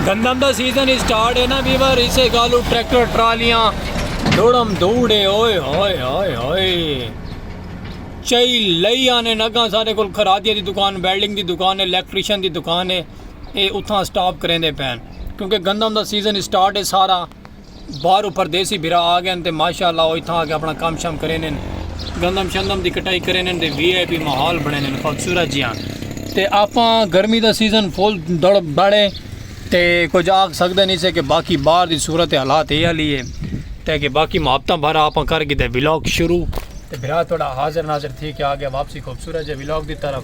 گندم دا season start ہے نا ویور اسے گالو ٹریکٹر ٹرالیاں دوڑم دوڑے اوئے ہوئے ہوئے ہوئے چائی لئی آنے نگاں سارے کل خرادیہ دی دکان بیلڈنگ دی دکان ہے الیکٹریشن دی دکان ہے اے اتھاں سٹاپ کریں دے پین کیونکہ گندم دا سیزن اسٹارٹ ہے سارا باہروں پردیسی بھرا آ گئن تے ماشاءاللہ او اتھاں آکے اپنڑاں کم شم کریندن گندم شندم دی کٹائی کریندن تے وی آئی پی ماحول بنڑیندن خوبصورت جیہاں تے آپاں گرمی دا سیزن فل دڑ بڑ اے تے کجھ آکھ سکدے نی سے کہ باقی باہر دی صورت حالات اے آلی اے تے کہ باقی محبتاں بھرا آپاں کر گھدے ولاگ شروع تے بھرا تہاڈا حاضر ناظر تھی کے آ گیا واپسی خوبصورت جے ولاگ دی طرف۔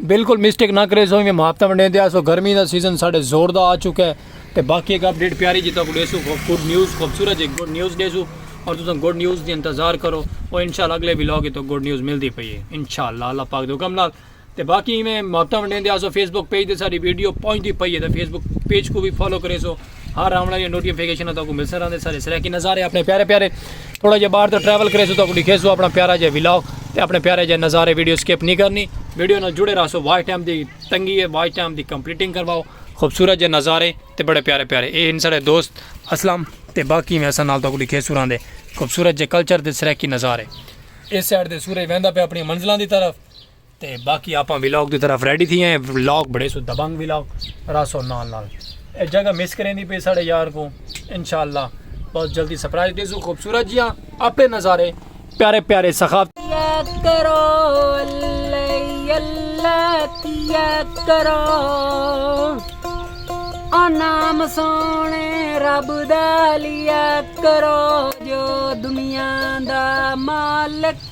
بالکل مسٹیک نہ کرے سو میں محافظہ ونڈے دیا سو گرمی دا سیزن ساڑھے زور دا آ چکا ہے تے باقی ایک اپڈیٹ پیاری جی تک دے سو گڈ نیوز خوبصورت جی گڈ نیوز دے سو اور تساں گڈ نیوز دی انتظار کرو اور انشاءاللہ اگلے ولاگ تو گڈ نیوز ملدی پئی ہے انشاءاللہ اللہ پاک دے حکم نال تے باقی میں محافظہ ونڈے دیا سو فیس بک پیج دے ساری ویڈیو پہنچ دی پئی ہے تے فیس بک پیج کو بھی فالو کرے سو ہر آمنا یہ نوٹیفیکیشن ہے تو کو ملسن رہنے سارے سرے کی نظارے اپنے پیارے پیارے تھوڑا جے باہر تو ٹریول کرے سو تو کو لکھے سو اپنا پیارا جے ویلاگ تے اپنے پیارے جے نظارے ویڈیو سکپ نہیں کرنی ویڈیو نہ جڑے رہا سو واچ ٹائم دی تنگی ہے واچ ٹائم دی کمپلیٹنگ کرواؤ خوبصورت جے نظارے تے بڑے پیارے پیارے اے ان سارے دوست اسلام تے باقی میں اسا نال تو کو لکھے سو رہنے خوبصورت جے کلچر دے سرے کی نظارے اس سائڈ دے سورج ویندا پہ اپنی منزلان دی طرف تے باقی آپاں ویلاگ دی طرف ریڈی تھی ہیں ویلاگ بڑے سو دبنگ ویلاگ راسو نال نال اے جگہ مس کریں دی پی ساڑے یار کو انشاءاللہ بہت جلدی سپرائز دے سو خوبصورت جیاں اپنے نظارے پیارے پیارے سخافت یاد کرو اللہ اللہ کی یاد کرو او نام سونے رب دا لیا کرو جو دنیا دا مالک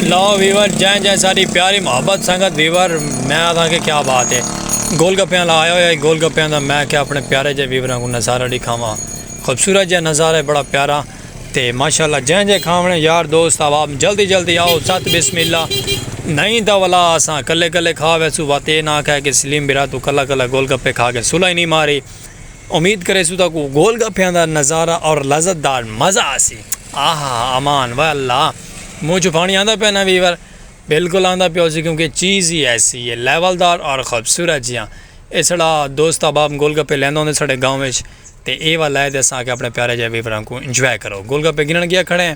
لاؤ ویور جائیں جائیں ساری پیاری محبت سنگت ویور میں آتا کہ کیا بات ہے گول گپیاں لا آیا ہویا گول گپیاں دا میں کہ اپنے پیارے جے ویوراں کو نظارہ ڈی کھاواں خوبصورت جے نظارہ ہے بڑا پیارا تے ماشاءاللہ جائیں جائیں کھاونے یار دوست آواب جلدی جلدی آؤ سات بسم اللہ نہیں دا ولا آساں کلے کلے کھا ویسو واتے نہ کہے کہ سلیم برا تو کلا کلا گول گپے کھا کے سلائی نہیں ماری امید کریسوں تہاکوں گول گپیاں دا نظارہ اور لذت دار مزہ آسی۔ آہا ہا امان وائے اللہ منہ چوں پانی آندا پیا نا ویور بالکل آندا پیا ہوسی کیونکہ چیز ہی ایسی ہے لیول دار اور خوبصورت جیاں اسڑا دوست احباب گول گپے لیندا ہوندے ساڈے گاؤں وچ تے اے وا لائے تے اساں آکھیا اپنے پیارے جے ویوراں کوں انجوائے کرو گول گپے گھنن گیا کھڑے ہیں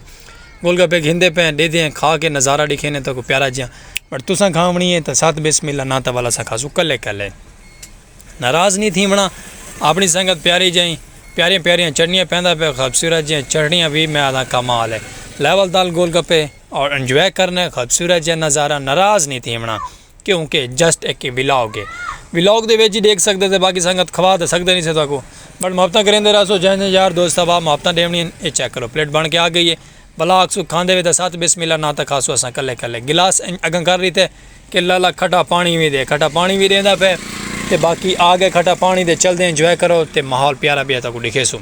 گول گپے گھندے پئے ہیں ڈیدھے ہیں کھا کے نظارہ ڈکھینے تہاکوں پیارا جیاں بٹ تساں کھاونی ہے تاں ساتھ بسم اللہ نا تاں ول اساں کھاسوں کلے کلے۔ ناراض نی تھیونڑاں اپنڑی سنگت پیاری جئیں پیاریاں پیاریاں چٹنیاں پیندا پئے خوبصورت جیاں چٹنیاں وی میں آدھاں کمال اے لیول دال گول گپے اور انجوائے کرنے خوبصورت جیاں نظارہ ناراض نی تھیونڑاں کیوں کہ جسٹ اک ولاگ اے ولاگ دے وچ ڈیکھ سکدے تے باقی سنگت کھوا تے سکدے نی سے تہاکوں بٹ محبتاں کریندے رہسو جئیں جئیں یار دوست احباب محبتاں ڈیونڑیاں اے چیک کرو پلیٹ بن کے آ گئی اے بلاک سوں کھاندے وے تاں ست بسم اللہ ناں تاں کھاسوں اساں کلے کلے گلاس انج اگاں کر ڈتے کہ لالا کھٹا پانڑی وی دے کھٹا پانڑی وی ڈیندا پے تے باقی آ گئے کھٹا پانڑی دے چلدے انجوائے کرو تے ماحول پیارا پیا تاکوں ڈکھیسوں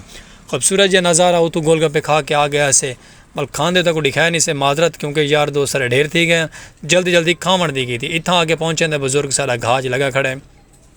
خوبصورت جیا نظارہ اتوں گول گپے کھا کے آ گئے ہسے بل کھاندے تاکوں ڈکھائے نی سے معذرت کیونکہ یار دوست سارے ڈھیر تھی گئے جلدی جلدی کھاون دی کیتی اتھاں آ کے پہنچے تے بزرگ ساڈا گھاج لگا کھڑے۔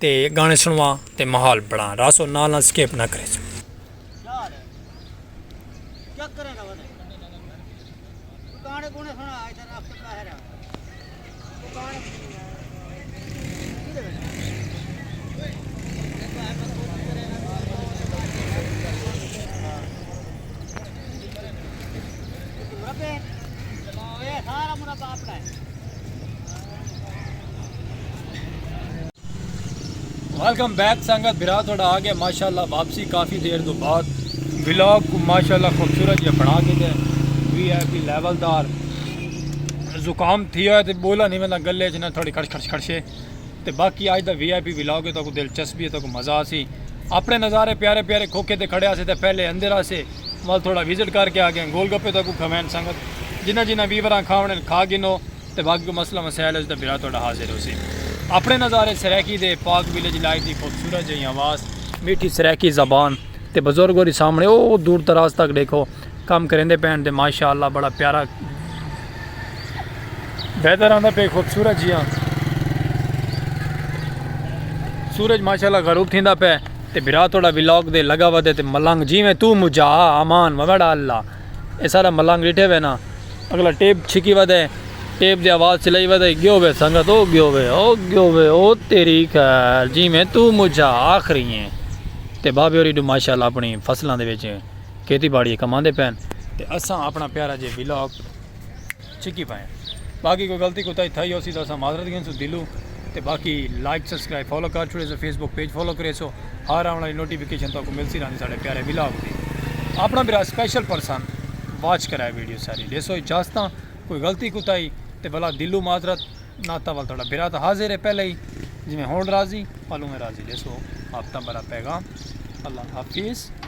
تے گانے سنوا تے ماحول بنڑا راسو نال نال سکیپ نہ کریسو۔ ویلکم بیک سنگت بھرا تھوڑا آ گیا ماشاءاللہ واپسی کافی دیر دو بعد ولاگ کو ماشاءاللہ خوبصورت یہ بنا کے دے وی آئی پی لیول دار زکام تھی ہوئے تے بولا نہیں میں گلے جنا تھوڑی کھڑ کھڑ کھڑشے تے باقی آج دا وی آئی پی ولاگ ہے تو کو دلچسپی ہے تو کو مزہ سی اپنے نظارے پیارے پیارے کھوکے تے کھڑے آسے تے پہلے اندر آسے مال تھوڑا وزٹ کر کے آ گئے گول گپے تو کو کھوین سنگت جنہ جنہ ویوراں کھاونے کھا گنو تے باقی کوئی مسئلہ مسائل ہوسی تاں بھرا تہاڈا حاضر ہوسی اپنے نظارے سرائیکی دے پاک ویلیج لائف دی خوبصورت جئی آواز میٹھی سرائیکی زبان تے بزرگ ہوری سامنے او دور دراز تک ڈیکھو کم کریندے پین تے ماشاء اللہ بڑا پیارا ویدر آندا پے خوبصورت جیاں سورج ماشاء اللہ غروب تھیندا پے تے بھرا تہاڈا ولاگ دے لگا ودے تے ملنگ جیویں تو مجھا امان وڑا اللہ اے سارا ملنگ ڈیٹھے وے نا اگلا ٹیپ چھکی ودے ٹیپ دی آواز چلائی ودے گیو وے سنگت او گیو وے او گیو وے او تیری خیر جی میں تو مجھا آخری ہیں تے بابے اوری ڈو ماشاءاللہ اپنی فصلان دے وچ کھیتی باڑی کماندے پین تے اساں اپنا پیارا جے ویلاگ چھکی پائیں باقی کوئی غلطی کوتاہی تھائی ہوسی تاں اساں معذرت گھنسوں دلوں تے باقی لائک سبسکرائب فالو کر چھوڑیسو فیس بک پیج فالو کریسو ہر آون والی نوٹیفیکیشن تہاکوں ملسی رہندی ساڈے پیارے ولاگ دی اپنا بھرا سپیشل پرسن واچ کرائے ویڈیو ساری ڈیسو اجازتاں کوئی غلطی کوتاہی تے بھلا دلوں معذرت ناتا ول تھوڑا بھرا تاں حاضر ہے پہلے ہی جویں ہن راضی پلوں میں راضی ڈیسو آپ تاں بھرا پیغام اللہ حافظ